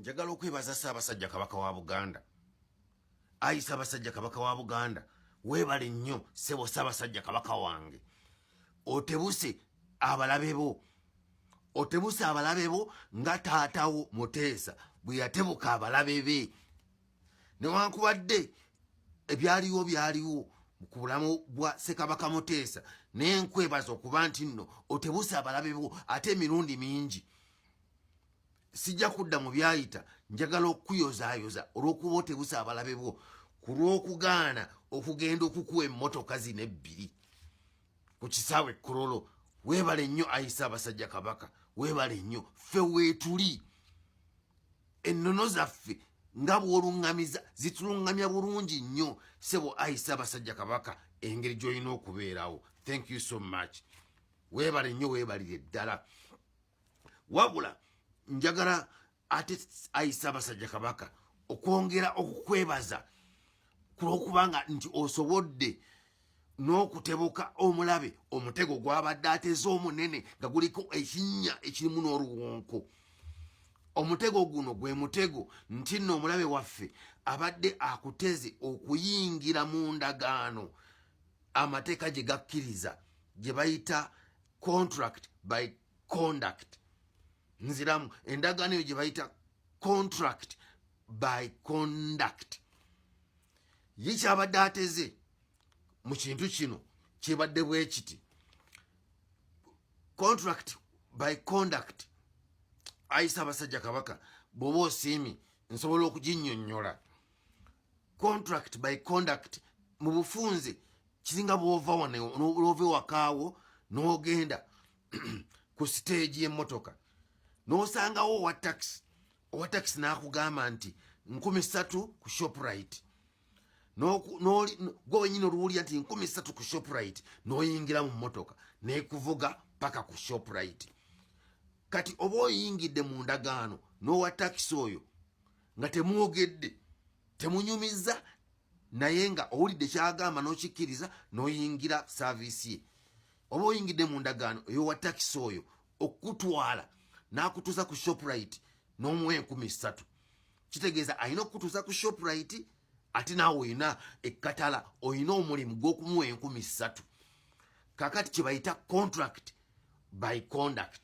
njagala okwebaza ssaabasajja kabaka wa buganda ayi ssaabasajja kabaka wa buganda weebale nnyo ssebo ssaabasajja kabaka wange otebuse abalabe bo otebuse abalabe bo nga taatawo muteesa bwe yatebuka abalabe be newankubadde ebyaliwo byaliwo ku bulamu bwa ssekabaka muteesa naye nkwebaza okuba nti nno otebuse abalabe bo ate emirundi mingi sijja kudda mu byayita njagala okukuyozaayoza olw'okuba otebusa abalabe bwo ku lw'okugaana okugenda okukuwa emmotoka zino ebbiri ku kisaawe ekkololo weebale nnyo ayise abasajja kabaka weebale nnyo ffe weetuli ennono zaffe nga bw'oluŋŋamiza zituluŋŋamya bulungi nnyo sebo ayise abasajja kabaka engeri gy'olina okubeerawo thank you so much weebale nnyo weebalire ddala wabula njagala ate ayisa abasajja kabaka okwongera okukwebaza kulwokubanga nti osobodde n'okutebuka omulabe omutego gwabadde ateze omunene nga guliko ekinnya ekirimu n'oluwonko omutego guno gwe mutego nti nno omulabe waffe abadde akuteze okuyingira mu ndagaano amateeka gye gakkiriza gye bayita contract by conduct nziramu endagaano eyo gye bayita contract by conduct ye kyabadde ateze mu kintu kino kyebadde bwekiti contract by conduct ayisa abasajja kabaka bwoba osiimi nsobola okuginyonyola contract by conduct mu bufunze kiringa bwova wano olwova ewakaawo n'ogenda ku siteegi y'emmotoka n'osangawo owa takisi owa takisi n'akugamba nti nkumi ssatu ku shoprite gwe wenyini oluwulira nti nkumi ssatu ku shoprite n'oyingira mu mmotoka nekuvuga paka ku shoprite kati oba oyingidde mu ndagaano n'owa takisi oyo nga temwogedde temunyumiza naye nga owulidde kyagamba nokikkiriza noyingira saviisi ye oba oyingidde mu ndagaano eyowa takisi oyo okukutwala nakutuusa ku shoprite nomuwa enkumi ssatu kitegeeza alina okukutuusa ku shoprite ate naawe olina ekkatala olina omulimu gwokumuwa enkumi ssatu kakati kyebayita contract by conduct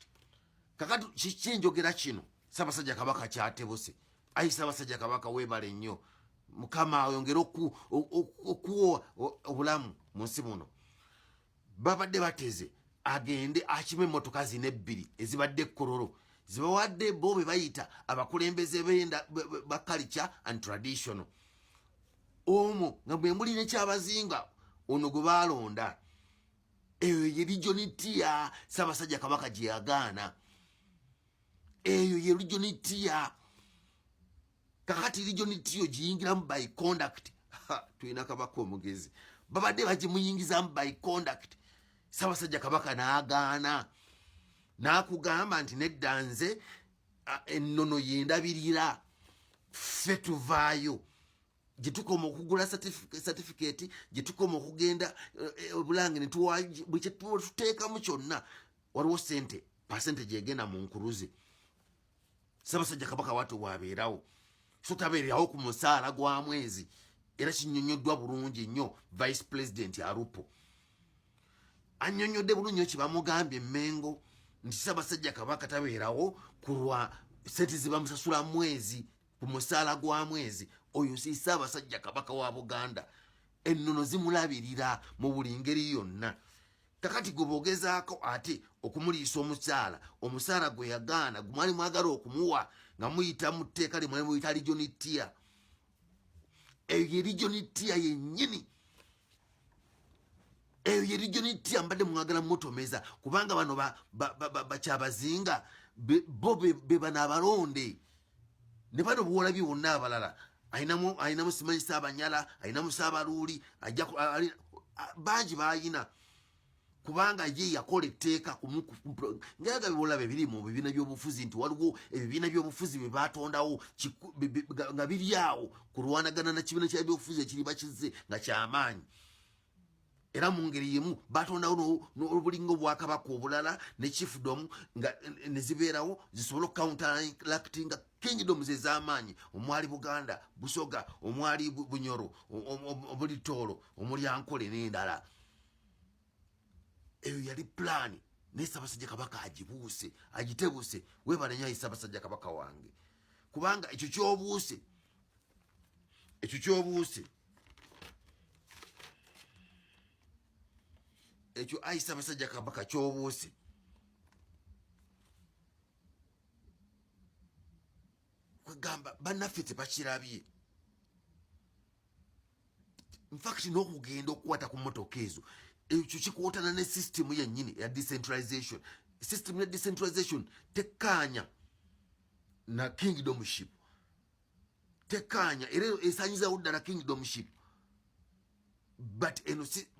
kakati kiki njogera kino sabasajja kabaka kyatebuse ayi sabasajja kabaka webale nnyo mukama ayongere okuwa obulamu mu nsi muno babadde bateze agende akima emmotoka zina ebbiri ezibadde ekkororo zibawadde bo be bayita abakulembeze benda ba culture and traditional omu nga bwe muli nekyabazinga ono gwe baalonda eyo ye lijonitiya sabasajja kabaka gyeyagaana eyo ye lijonitiya kakati lijonitiyo giyingiramu by conduct tulina kabaka omugezi babadde bagimuyingizamu by conduct sabasajja kabaka nagaana nakugamba nti nedda nze ennono yendabirira ffe tuvaayo gyetukoma okugula satifiketi gyetukoma okugenda obulange eh, eh, netwatuteekamu kyonna waliwo sente pasente gyegenda mu nkuluze sabasajja kabaka watu wabeerawo so tabeerawo ku musaala gwa mwezi era kinyonyoddwa bulungi nnyo vice president arupo anyonyodde bulungi nyo kyebamugambye emengo nti sabasajja kabaka tabeerawo kulwa sente zibamusasula mwezi ku musaala gwa mwezi oyo si ssaabasajja kabaka wa buganda ennono zimulabirira mu buli ngeri yonna kakati gwe bogezaako ate okumuliisa omukyala omusaala gwe yagaana gwe mwali mwagala okumuwa nga muyita mu tteeka lye mwali muyita lijonitiya eyo ye lijonitiya yennyini eyo ye region enti ambadde mwagala mutomeza kubanga bano bakyabazinga bo bebano abalonde ne bano buwolabi wonna abalala alinamu simanyisa abanyala alinamu saabaluuli bangi bayina kubanga ye yakola etteeka ngaga biwolabe biri mu bibiina by'obufuzi nti waliwo ebibiina by'obufuzi bye baatondawo nga biri awo kulwanagana na kibiina kya byobufuzi ekiri bakize nga kyamaanyi era mu ngeri yemu batondawo n'obulinga obwakabaka obulala ne chiefdom nga ne zibeerawo zisobole okucounteractinga kingdoms ez'amaanyi omwali buganda busoga omwali bunyoro obulitoolo omulyankole n'endala eyo yali pulaani naye sabasajja kabaka agibuuse agitebuuse webale nyo ayi sabasajja kabaka wange kubanga ekyo kyobuuse ekyo kyobuuse ekyo ayi sabasajja kabaka kyobuuse kwegamba banaffe tebakirabye infact n'okugenda okukwata ku motoka ezo ekyo kikwotana ne system yennyini eya decentralization system ya decentralization tekkaanya na kingdomship tekkaanya era esanyizawo ddala kingdomship but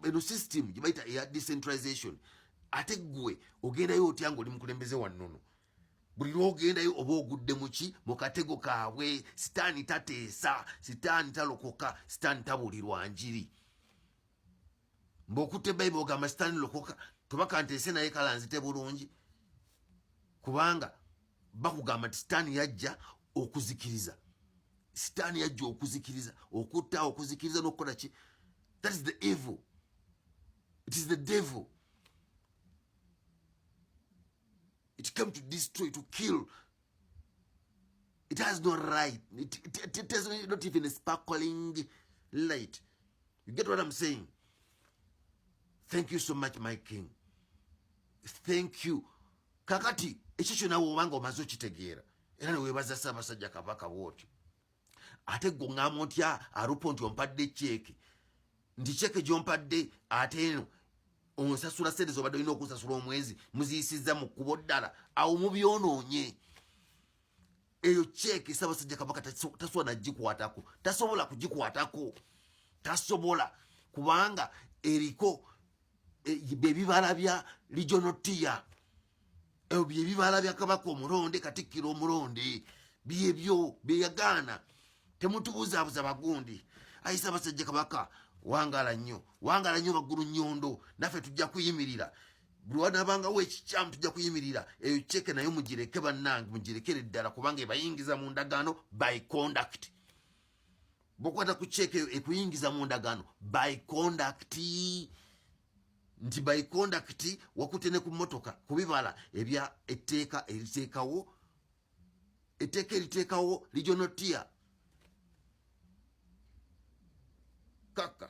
eno system gyebayita eya decentralization ate ggwe ogendayo otya ngaoli mukulembeze wannono buli lwogendayo oba ogudde muki mu katego kaabwe sitaani tateesa sitaani talokoka sitaani tabulirwa njiri mba okutte bayibuli ogamba sitaani lokoka tobakanteese naye kala nzite bulungi kubanga bakugamba nti sitaani yajja okuzikiriza sitaani yajja okuzikiriza okutta okuzikiriza nokukola ki that is the evil it is the devil it came to destroy to kill it has no right it, it, it, it has not even a sparkling light you get what i'm saying thank you so much my king thank you kakati ekyo kyona wobanga omaze okitegeera era newebaza ssaabasajja kabaka bwotyo ate gwe oŋŋamba otya arupo nti ompadde ceeke nti ceeke gy'ompadde ate eno onsasula sente zobadde olina okusasula omwezi muziyisizza mu kkubo ddala awo mubyonoonye eyo ceeke ssabasajja kabaka tasobola nagikwatako tasobola kugikwatako tasobola kubanga eriko byebibala bya regional tier ebyo byebibala bya kabaka omulonde katikkiro omulonde byebyo byeyagaana temutubuzabuza bagundi ayisa abasajja kabaka wangala nnyo wangala nnyo baggulu nyondo naffe tujja kuyimirira buli wanabangawo ekikyamu tujja kuyimirira eyo ceke nayo mugireke bannange mugirekere ddala kubanga ebayingiza mu ndagaano by conduct bwokwata ku check eyo ekuyingiza mu ndagaano by conduct nti by conduct wakute ne ku motoka ku bibala ebya etteeka eriteekawo etteeka eriteekawo regional tier kaka